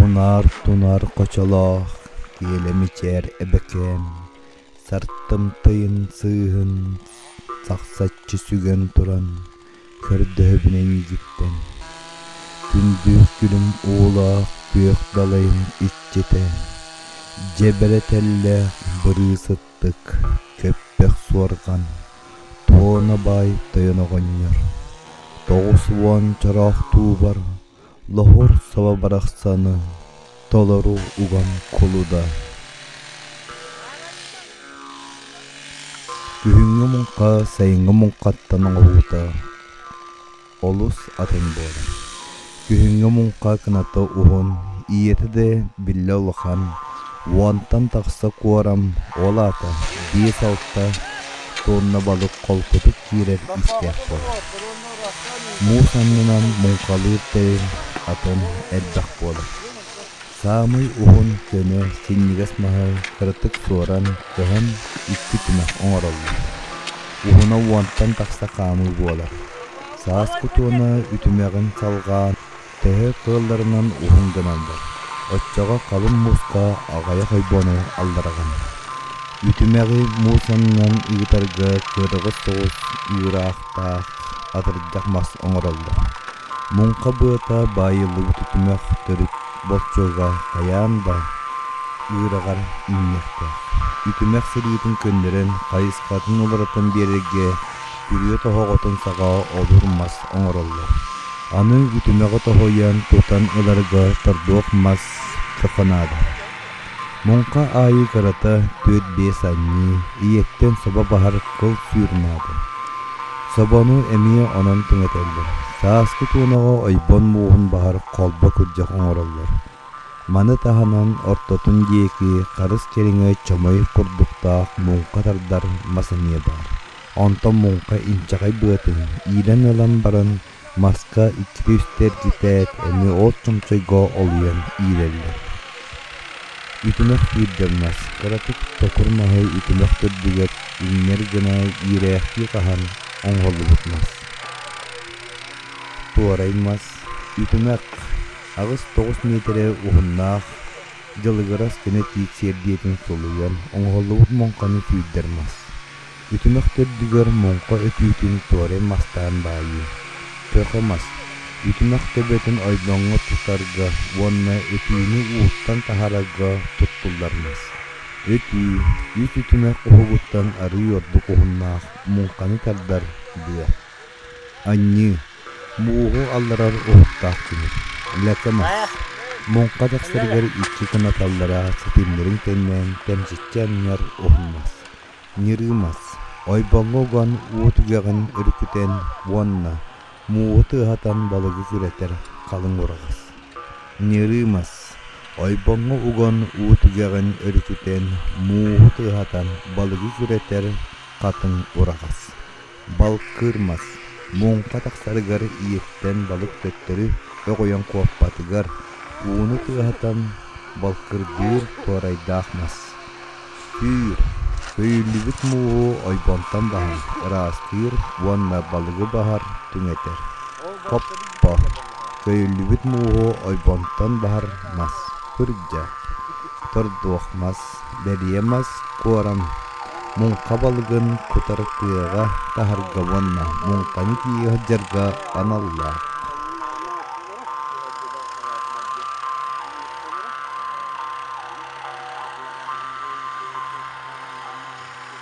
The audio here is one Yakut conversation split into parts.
Унаар-тунаар хочолоох киэлэ мичээр эбэкээн сартым тыйын сыыһын сахсаччы сүгэн туран көрдөһөбүн эйиигиттэн күндү күлүм уулаах күөх далайым иччитэ дьэ бэрэтэллээх бырыысыттык көппөх суорҕан туона баай тойон оҕонньор тоҕус уон чороох туубар Лоһуурсаба барахсаны толору уган кулуда Күһүҥҥү муҥха сайыҥҥы муҥхаттан оҥоһуута олус атын буолар. Күһүҥҥү муҥха кыната уһун, ийэтэ да биллэ улахан, уонтан тахса куорам, ол аата биэс-алта туонна балык холкутук киирэр иистээх буолар. муус аннынан муҥхалыыр тэрил атын элбэх буолар саамай уһун көмө синньигэс маһы кыратык суоран көһөн икки түмэх оҥороллор уһуна уонтан тахса хаамыы буолар саас кутуона үтүмэҕин салҕаан төһө кыалларынан уһун гыналлар. Оччоҕо халыҥ мууска аҕыйах ойбону аллараҕын. Үтүмэҕи муус аннынан ыытарга кыараҕас соҕус ыыраахтаах атырдьах мас оҥороллор. Муҥха быата баайыллыбыт үтүмэх төрүт боччуга хайаан да ыыраҕар үүнүөхтээх. Үтүмэх сырыытын көннөрөн хайысхатын уларытан биэрэргэ күрүө тоһоҕотун саҕаҕа обур мас оҥороллор. Аны үтүмэҕи тоһуйан тутан ыларга торбуох мас чохо наада. Муҥха аайы кырата түөрт-биэс анньыы, ийэттэн собо баһар кыл сүүр наада. Собону эмиэ онон түҥэтэллэр. Сааскы туонаҕа ойбон мууһун баһар холбо кырдьах оҥороллор. Маны таһынан ортотун диэки харыс кэриҥэ чомой курдуктаах муҥха тардар мас эмиэ баар. Онтон муҥха инчэҕэй быатын иилэн ылан баран, маска икки-үс тэрдитээт, эмиэ от чомчойго олуйан иилэллэр. Үтүмэх кыырдьаннас, кыратык чокур маһы үтүмэх төрдүгэр иҥнэр гына иирээхтии хаһан оҥоһуллубут мас. Туорай мас, үтүмэх, аҕыс тоҕус миэтэрэ уһуннаах, дьылыгырас көнө тиит сиэрдийэтин сулуйан оҥоһуллубут муҥханы сүүрдэр мас. Үтүмэх төрдүгэр муҥха өтүүтүн туорай мастаан баайыы, көхө мас, үтүмэх төбөтүн ойдоҥҥо тутарга уонна өтүүнү ууттан таһарарга туттуллар мас. Өтүү үс үтүмэх уһугуттан арыый ордук уһуннаах муҥханы тардар быа. Анньыы мууһу алларар уһуктаах тимир. Лэкэ мас муҥха тахсарыгар иччи кынаталлара ситимнэрин кэннэ кэмчиччи анньар уһун мас. Ньырыымас ойбоҥо-уган уу түгэҕин өрүкүтэн уонна мууһу тыаһатан балыгы күрэтэр халыҥ ураҕас. Ньырыымас ойбоҥо уган уу түгэҕин өрүкүтэн мууһу тыаһатан балыгы күрэтэр хатыҥ ураҕас. Балкырмас муҥха тахсарыгар ииртэн балык төттөрү өҕүйэн куоппатыгар ууну тыаһатан балкырдыыр туорайдаах мас. Сүүр, көйүллүбүт мууһу ойбонтон баһан ыраастыыр уонна балыгы баһар түҥэтэр. Хоппо, көйүллүбүт мууһу ойбонтон баһар мас. Кырдьа, тордуох мас. бэлиэ мас куоран, муҥха балыгын кутар тыаҕа таһарга уонна муҥханы тиийэ сылдьарга аналлаах.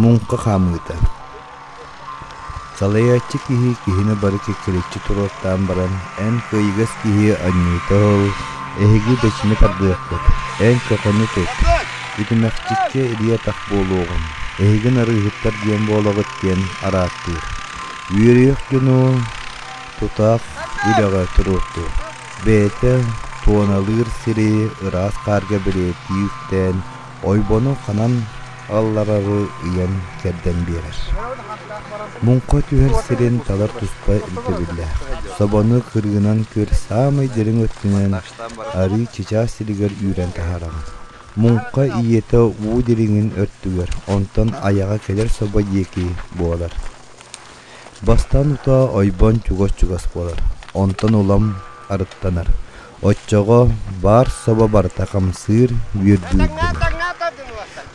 Муҥха хаамыыта. Салайааччы киһи киһини бары кэккэлэччи туруортаан баран, эн кыайыгас киһи анньыыта ол, эһиги бэчими тардыаххыт, эн чохону тут, үтүмэхчиччэ ириэ-атах буолуоҕуҥ, эһигин арыыһыттар диэн буолаҕыт диэн араартыыр. Үөрүйэх дьону тутаах үлэҕэ туруортуур. Бэйэтэ туоналыыр сири ыраас хаарга бэлиэтии үктээн, ойбону ханан алларары ыйан кэрдэн биэрэр. Муҥха түһэр сирин талар туспа ирдэбиллээх. Собону кырыынан көр саамай дириҥ өттүнэн арыы чычаас сиригэр үүрэн таһаараҕын. Муҥха ийэтэ уу дириҥин өртүгэр, онтон айаҕа кэлэр собо диэки буолар. Бастаан утаа ойбон чугас-чугас буолар, онтон улам арыттанар. Оччоҕо баар собо барыта хамсыыр, үөрдүүр дэнэр.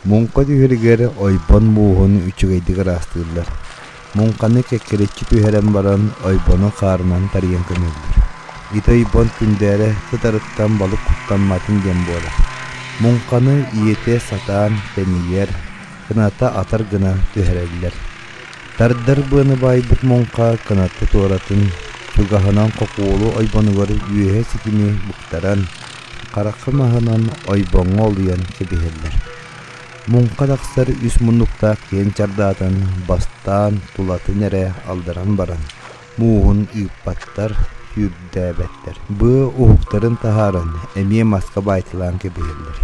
Муҥха түһэригэр ойбон мууһун үчүгэйдик ыраастыыллар. Муҥханы кэккэрэччи түһэрэн баран, ойбону хаарынан тарыйан көмөллөр. Ити ойбон күндээрэ кытарыттан балык куттамматын диэн буолар. Муҥханы ийэтэ сатаан тэнийэр, кыната атар гына түһэрэллэр. Тардар быаны баайбыт муҥха кынатта туоратын, чугаһынан хокуолу ойбонугар үөһэ ситими буктаран, харахха маһынан ойбоҥҥо олуйан кэбиһэллэр. Муҥха тахсар үс муннуктаах киһин чардаатан бастаан тулатын эрэ алдаран баран, мууһун ыыппаттар, сүүрдээбэттэр. Быы уһуктарын таһааран, эмиэ маска баайталаан кэбиһэллэр.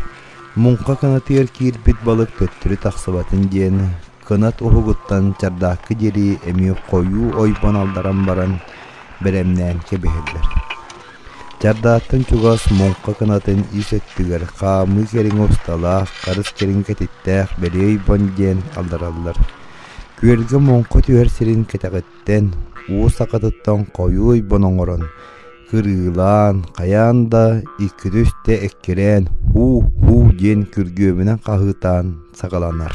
Муҥха кынатыгар киирбит балык төттөрү тахсыбатын диэн, кынат уһугуттан чардаакка диэри эмиэ хойуу ойбон алдаран баран бэлэмнээн кэбиһэллэр. Чардааттан чугас муҥха кынатын ис өттүгэр хаамыы кэриҥ усталаах харыс кэриҥ кэтиттээх бэлиэ ойбон диэн алдараллар. Күөлгэ муҥха түһэр сирин кэтэҕиттэн уу сакатыттан хойуу ойбон оҥорон кырыылаан хайаан да икки-үстэ эккирээн һуу-һуу диэн күргүөмүнэн хаһыытаан саҕаланар.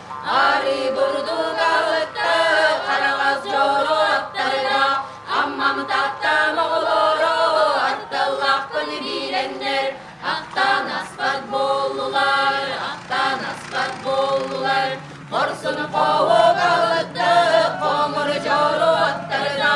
Арыы бурдуга ытты хараҕас дьоро аттарга, Аммам Тааттам оҕолоро аттыллахпын билэннэр, Ахтан аспат буоллулар, ахтан аспат буоллулар, Хорсун хоһуга ытты хоҥур дьоро аттарга,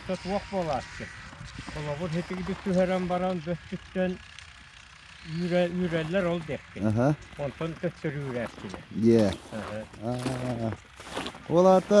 өссө туох буолааччы холобур ситигитик түһэрэн баран бөспүттэн үүрэ үүрэллэр ол диэкки онтон төттөрү үүрээччилэр дьэ ол аата